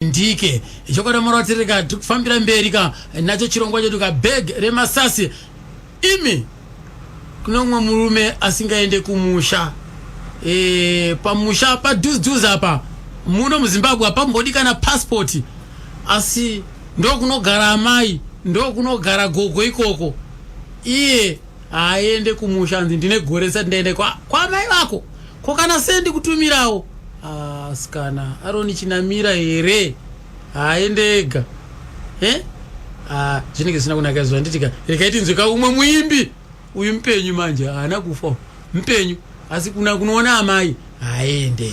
ndike chokwadi murwatsiri ka tikufambira mberi ka nacho chirongwa chedu ka bag remasasi imi kune umwe murume asingaende kumusha e, pamusha padhuzdhuz apa muno muzimbabwe hapambodi kana paspoti asi ndokunogara amai ndokunogara gogo ikoko iye haaende kumusha anzi ndine gore risati ndaende kwamai kwa vako ko kana sei ndikutumirawo asikana ah, aroni chinamira here haaende ega e ah, zvinenge zvisina kunaka zuva nditika rekai tinzwe ka umwe muimbi uyu mupenyu manje haana kufa mupenyu asi kuna kunoona amai haaende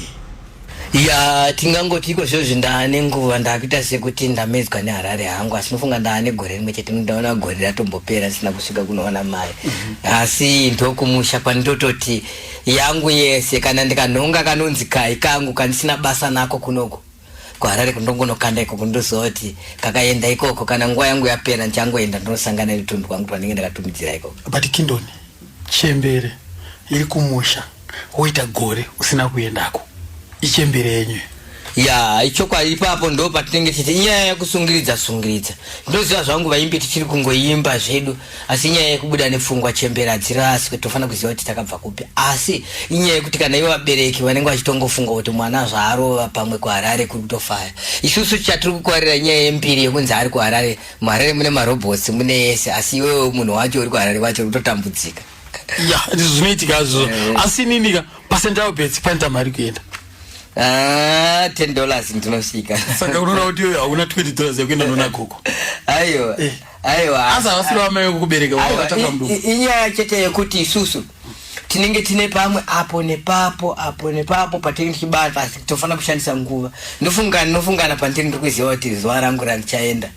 ya tingangoti iko zvozvi ndaane nguva ndakuita sekuti ndamedzwa neharare hangu asi nofunga ndaane gore rimwe chete ndaona gore ratombopera ndisina kusvika kunoona mai mhm. asi ndokumusha kwandototi yangu yese kana ndikanhonga kanonzi kai kangu kandisina basa nako kunoku kuharare kundongonokanda ikoko ndozoti kakaenda ikoko kana nguva yangu yapera ndichangoenda ndinosangana netunhu twangu twanenge ndakatumidzira ikoko but kindoni chembere iri kumusha woita gore usina kuendako ichembere yenyu ya ichokwadi ipapo ndo patinenge tichiti nyaya yekusungiridza sungiridza ndoziva zvangu vaimbi tichiri kungoimba zvedu asi inyaya yekubuda nepfungwa chembere hadziri asi kuti tofanira kuziva kuti takabva kupi asi inyaya yekuti kana ivo vabereki vanenge vachitongofunga kuti mwana zvaarova pamwe kuharare kuri kutofaya isusu chatiri kukwarira inyaya yembiri yekunzi ari kuharare muharare mune marobhots mune yese asi iwewe munhu wacho uri kuharare vacho uri kutotambudzika ya ndizvo zvinoitika zvo eh. asi ninika pasendao bets pane tamari kuenda Ah, ten dollars ndinosvika saka unoona kuti hauna twenty dollars yekuenda noona gogo aiwa eh. aiwa asi havasiri vamai vekukubereka vakatanga mudumbu inyaya chete yekuti isusu tinenge tine pamwe apo nepapo apo nepapo patinenge tichibata asi tofanira kushandisa nguva ndofungana ndinofungana pandiri ndiri kuziva kuti zuva rangu randichaenda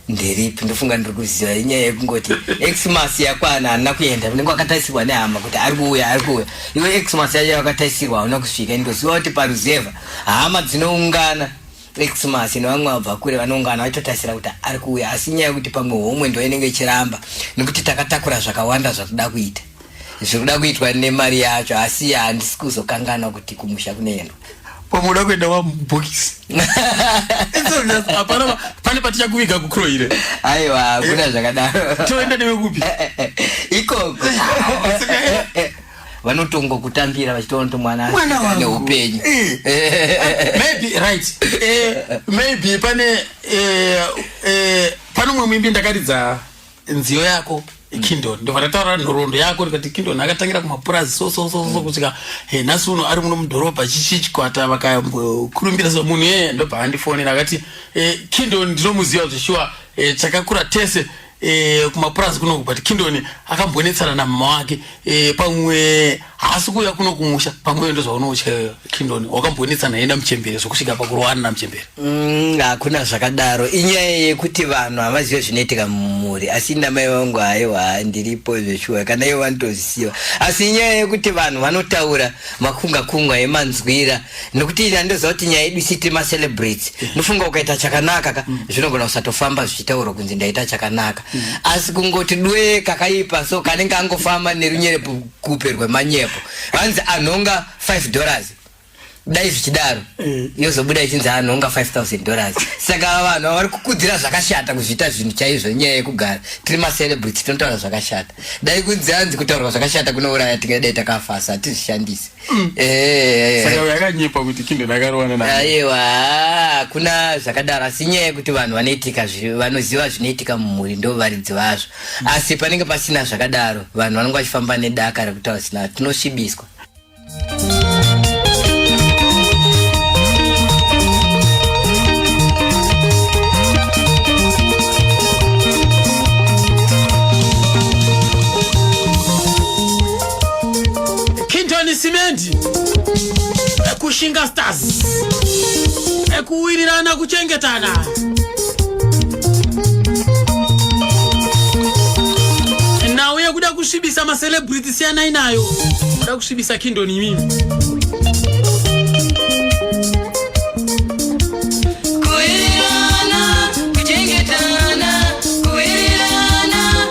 ndiripi ndofunga ndiri kuziva inyaya yekungoti xmas yakwana handina kuenda unenge wakatarisirwa nehama kuti ari kuuya ari kuuya iwe xmas yacho yakatarisirwa hauna kusvika indoziva kuti paruzevha hama dzinoungana vexmas nevamwe vabva kure vanoungana vaitotarisira kuti ari kuuya asi nyaya yekuti pamwe homwe ndo inenge ichiramba nekuti takatakura zvakawanda zvakuda kuita zvikuda kuitwa nemari yacho asi handisi kuzokanganwa kuti kumusha kunoendwa pamuda kuenda wamubhokisi hapana pane patichakuviga kukroire aiwa hakuna zvakadaro toenda newe kupi ikoko vanotongo kutambira vachitoona mwana ane upenyu eh. Eh. maybe right eh, maybe pane eh, eh, pane umwe muimbi ndakaridza nziyo yako kindon ndobva ndataura nhoroondo yako ndikati kindon akatangira kumapurazi so so so so kusvika he nhasi uno ari muno mudhorobha chichi chikwata vakambokurumbira so munhu yeye ndobva andifonera akati kindon ndinomuziva zveshuwa chakakura tese e, kumapurazi kunoku but kindoni akambonetsana namama wake e, pamwe haasi kuuya kuno kumusha pamwe ndo zvaunotya kindoni wakambonetsana yenda muchembere zvokusvika pakurowana namuchembere mm, hakuna mm, zvakadaro inyaya yekuti vanhu havazive zvinoitika mumhuri asi namai vangu haiwa ndiripo zveshuwa kana ivo vanotozisiva asi inyaya yekuti vanhu vanotaura makungakungwa emanzwira nekuti ini andiziva kuti nyaya yedu isiti macelebrate ndofunga ukaita chakanaka ka mm. zvinogona kusatofamba zvichitaurwa kunzi ndaita chakanaka mm. asi kungoti dwe kakaipa so kanenge angofamba nerunyerepo kupe rwemanyepo hanzi anhonga 5 dollars dai zvichidaro mm. yozobuda ichinzi anhonga 5000 dollars saka vanhu vavari kukudzira zvakashata kuzviita zvinhu chaizvo nyaya yekugara tiri macelebrate tinotaura zvakashata dai kunzi hanzi kutaurwa zvakashata kunouraya tingadai takafasa hatizvishandisi Mm. Eh, eh, eh. Saka yakanyepa kuti kindo dakarowana na. Aiwa, ah, kuna zvakadaro asi nyaya yekuti vanhu vanoitika vanoziva zvinoitika mumhuri ndo varidzi vazvo. Mm. Asi panenge pasina zvakadaro, vanhu vanenge vachifamba nedaka rekutaura sina tinosvibiswa. Kintoni Cement, Kushinga Stars, kuwirirana kuchengetana. Nhau yekuda kusvibisa macelebrity siyanai nayo, kuda kusvibisa Kingdom imimi. Kuwirirana, kuchengetana, kuwirirana,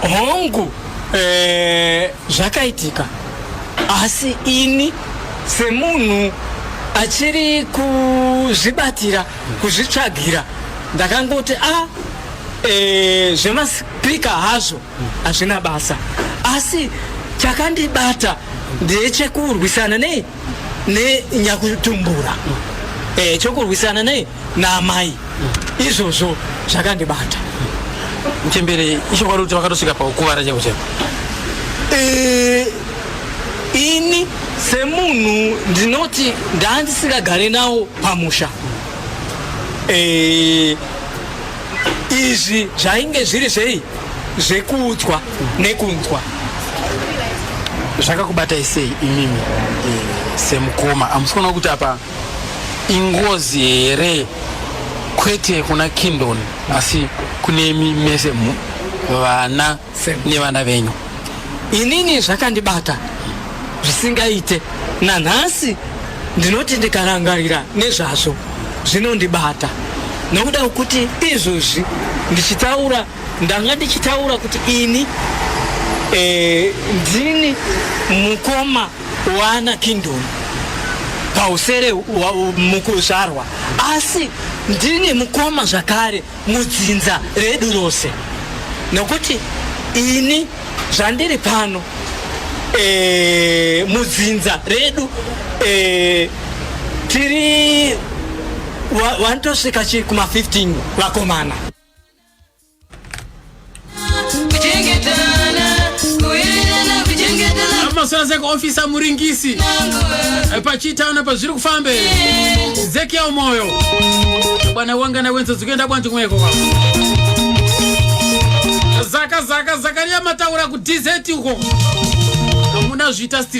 hongu eh, zvakaitika asi ini semunhu achiri kuzvibatira kuzvitsvagira ndakangoti a ah, e, eh, zvemaspika hazvo hazvina basa asi chakandibata ndechekurwisana nei nenyakutumbura e, eh, chokurwisana nei naamai izvozvo zvakandibata mchembere ichokwadi kuti vakatosvika paukuvara cheko cheko eh, ini semunhu ndinoti ndaandisingagare nawo pamusha eh, izvi zvainge zviri zvei zvekuudzwa nekunzwa zvakakubatai sei imimi eh, semukoma amusikuona kuti apa ingozi here kwete kuna kindon asi kunemi mese vana nevana venyu inini zvakandibata zvisingaite nanhasi ndinoti ndikarangarira nezvazvo zvinondibata nokuda kwekuti izvozvi ndichitaura ndanga ndichitaura kuti ini e, ndini mukoma wana kingdom pausere wa- mukuzvarwa asi ndine mukoma zvakare mudzinza redu rose nokuti ini zvandiri pano eh, mudzinza redu eh, tiri wa- wanotosvika chi kuma 15 vakomana maswaza kuofisa muringisi eh, pachitaona pazviri kufamba zekiya umoyo bwana wangana wenzo dzikuenda kwanji kumweko kwako zaka zaka zakaria mataura kudz uko hamuna zviita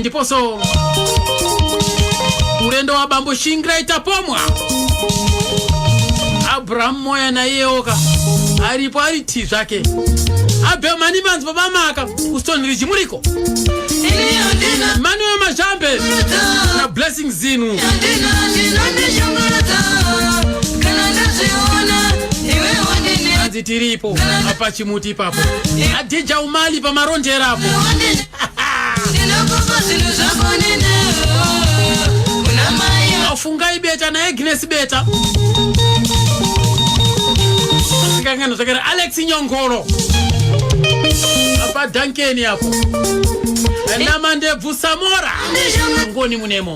ndiposo urendo wa bambo shingira itapomwa abrahamu moya naiyewoka aripo ari ti zvake abhemani manzi babamaka ustoni riji muriko manuwe mazhambe na blessing zinu anzi tiripo apa chimuti ipapo adhija umali pamarondera apo afungai beta naagnes beta sikangano zvakare alex nyongoro apa dankeni apo namandebvu samora ngoni munemo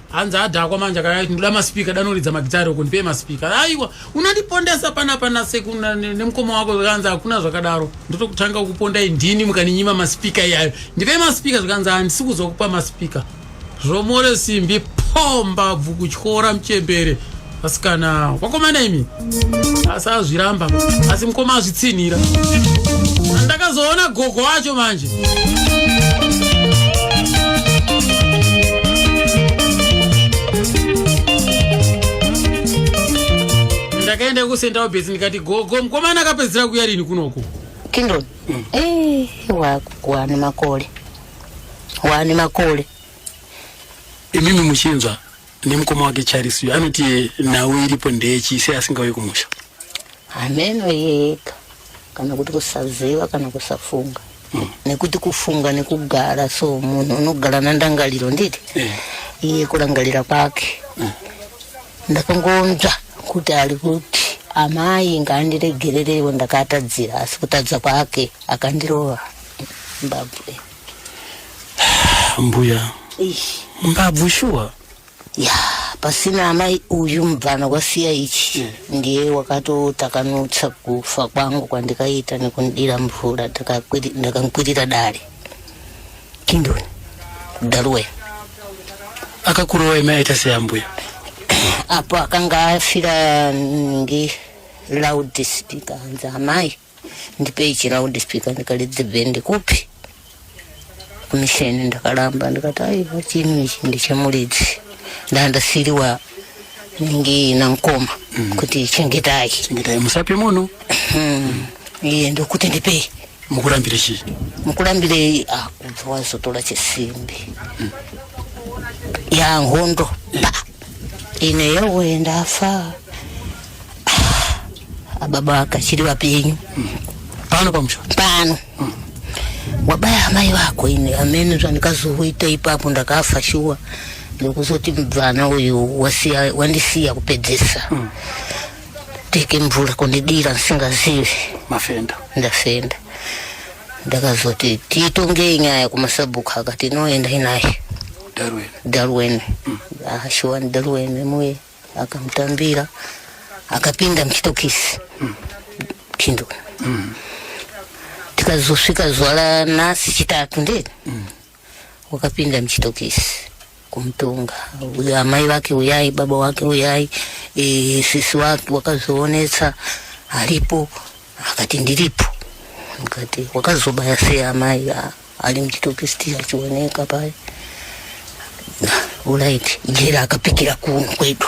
hanzi adhakwa manje akati ndinoda maspeaker danoridza magitari uko ndipei maspeaker aiwa unandipondesa pana pana seku nemukoma wako zvikanzi hakuna zvakadaro ndotokutanga kukupondai ndini mukaninyima maspeaker iyayo ndipei maspeaker zvikanzi handisi kuzokupa maspeaker zvomore simbi pomba bvu kutyora muchembere asikana wakomana imi asi azviramba asi mukoma azvitsinhira ndakazoona gogo wacho manje ndakaenda kusenda wabhesi ndikati gogo mukomana akapedzisira kuya rini kunoko kindon mm. eh, wakuwane makole wane makole imimi muchinzwa nemukoma wake charisi uyo anoti nhau iripo ndeyechi sei asingauye kumusha hameno yeka kana kuti kusaziva kana kusafunga mm. nekuti kufunga nekugara so munhu unogara nandangariro nditi eh. iye yeah. kurangarira kwake mm. ndakangonzva kuti ari kuti amai ngaandiregererewo ndakatadzira asi kutadza kwake akandirova mbabwe mbuya mbabvu shuwa ya pasina amai uyu mubvana kwasiya ichi ndiye wakatotakanutsa kufa kwangu kwandikaita nekundira mvura ndakamkwirira dare kindoni daruwe akakurowa ime aita seambuya apo akanga afira nge loud speaker hanzi amai ndipei chiround speaker ndikati dzibhendi kupi kumisheni ndakaramba ndikati aiwa chini ichi ndichemuridzi ndandasiriwa nenge namkoma mm. kuti chengetai chengetai musape munhu hmm. iye ndokuti ndipei mukurambire chii mukurambire ah, kubva wazotora chisimbi mm. yanhondo yeah. ine yowe ndafa ababa ah, vakachiri vapenyu pano pamusha pano mm. wabaya amai vako ini amene zvandikazoita ipapo ndakafa shuwa ndikuzoti mubvana uyu wasiya wandisiya kupedzesa mm. teke mvura kundidira ndisingazivi mafenda ndafenda ndakazoti tiitongei nyaya kumasabhuku akati inoenda inaye darwene darwene mm. ashuwa ah, ni darwene muye akamutambira akapinda muchitokisi mm. chindo mm. tikazosvika zuva ranhasi chitatu ndee mm. wakapinda muchitokisi kumutonga uyo amai vake uyai baba wake uyai e, sisi wake wakazoonetsa aripo akati ndiripo ndikati wakazobaya sei amai ali muchitokisiti achioneka paya ulaiti njira akapikira kuno kwedu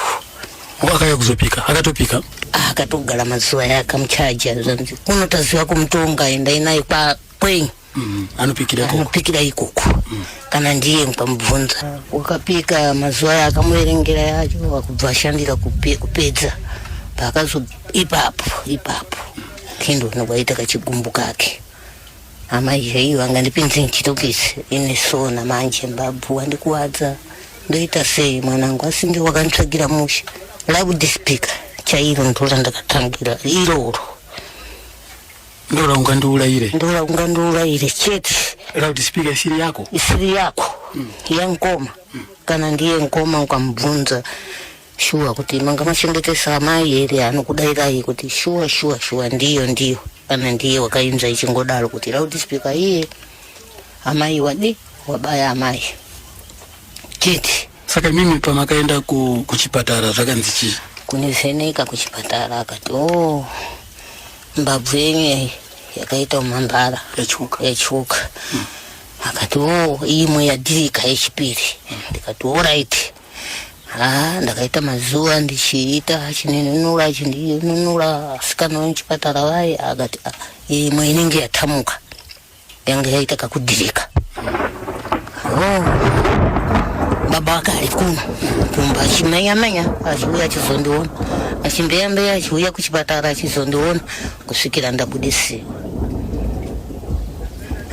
wakaya kuzopika akatopika ah, akatogara mazuva aya akamuchaja zvanzi kuno taziva kumutonga endai naye kwa kwenyu mm, anopikira ikoko anopikira ikoko mm. kana ndiye mukamubvunza ah, wakapika mazuva aya akamuverengera yacho wakubva ashandira kupe, kupedza paakazo ipapo ipapo kendo nokwaita kachigumbu kake Hama Jay vangandipinzi nchitokisi ini sona manje mbabvu wandikuwadza ndoita sei mwanangu asinge wakanditsvagira musha loud speaker chairo ndora ndakatangira iroro ndora ungandiurayire ndora ungandiurayire chete loud speaker isiri yako isiri yako mm. yankoma mm. kana ndiye nkoma ukamubvunza shuwa kuti manga machengetesa amai here anokudairai kuti shuwa shuwa shuwa ndiyo ndiyo kana ndiye wakainzva ichingodaro kuti loudspeaker iye amai wadi wabaya amai chiti saka imimi pamakaenda ku, kuchipatara zvakanzi chii kunivheneka kuchipatara akati o oh, mbabvu yenyu yakaita umambara yatyoka yatyoka hmm. akati o oh, imwe yadirika yechipiri hmm. ndikati o oh, right haa ndakaita mazuva ndichiita chininunura chindinunura asikana vemuchipatara vaye akati ah, imwe inenge yatamuka yanga yaita kakudhirika oh, baba wake ari kuno kumba achimenyamenya achiuya achizondiona achimbeyambeya achiuya kuchipatara achizondiona kusvikira ndabudisiwa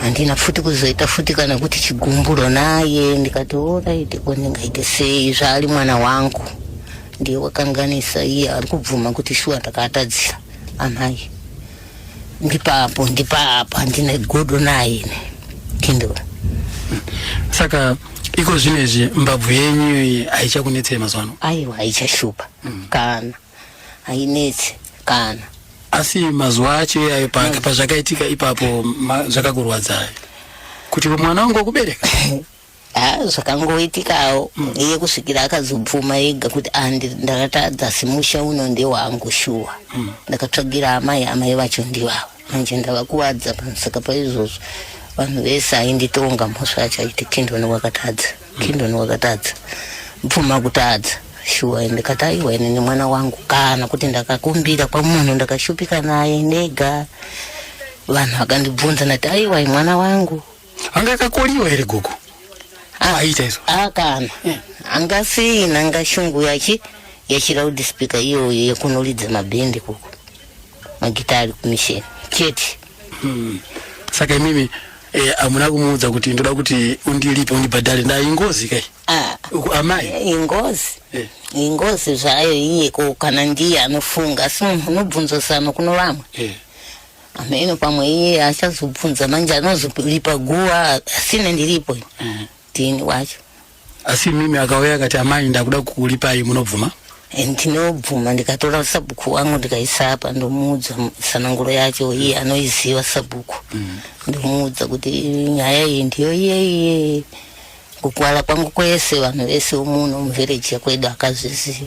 handina futi kuzoita futi kana kuti chigumburo naye ndikati oraiti ko ndingaite sei zvaari mwana wangu ndiye wakanganisa iye ari kubvuma kuti shuwa ndakaatadzira amai ndipapo ndipapo handina godo naye ne kindura saka iko zvino izvi mbabvu yenyu haichakunetsei mazuva ano aiwa haichashupa mm. kana hainetsi kana asi mazuva acho iyayo pazvakaitika ipapo zvakakurwadzai kuti mwana wangu wakubereka ha zvakangoitikawo mm. iye kusvikira akazobvuma yega kuti andi ndakatadza simusha uno ndewangu shuwa mm. ndakatsvagira amai amai vacho ndivavo manje ndavakuvadza pamusaka paizvozvo vanhu vese ainditonga mhosva yacho aiti kindoni wakatadza Kingdom wakatadza mupfuma kutadza shuwa ende kataiwa ine nemwana wangu kana kuti ndakakumbira kwamunhu ndakashupika naye nega vanhu vakandibvunza ndati aiwa mwana wangu anga akakoliwa here gogo ah, aiita izvo akana ah, eh. anga sina anga shungu yachi yechiraudi speaker iyoyo yekunoridza mabhende koko magita ari kumisheni chete hmm. saka imimi eh, amuna kumuudza kuti ndoda kuti undilipe undibhadhare nda ingozi kai ah. amai eh, ingozi eh. ingozi zvayo iye ko kana ndiye anofunga asi munhu unobvunzo sano kuno vamwe ameno pamwe iye achazobvunza manje anozolipa guva asine ndiripo ndini wacho asi mimi akauya akati amai ndakuda kukulipai munobvuma eh, ndinobvuma ndikatora sabhuku wangu ndikaisa apa ndomuudza sananguro yacho iye anoiziva sabhuku mm. ndomuudza kuti nyaya iyi ndiyo iyeiye kukwala kwangu kwese vanhu vese umuno muvhereji yakwedu akazviziva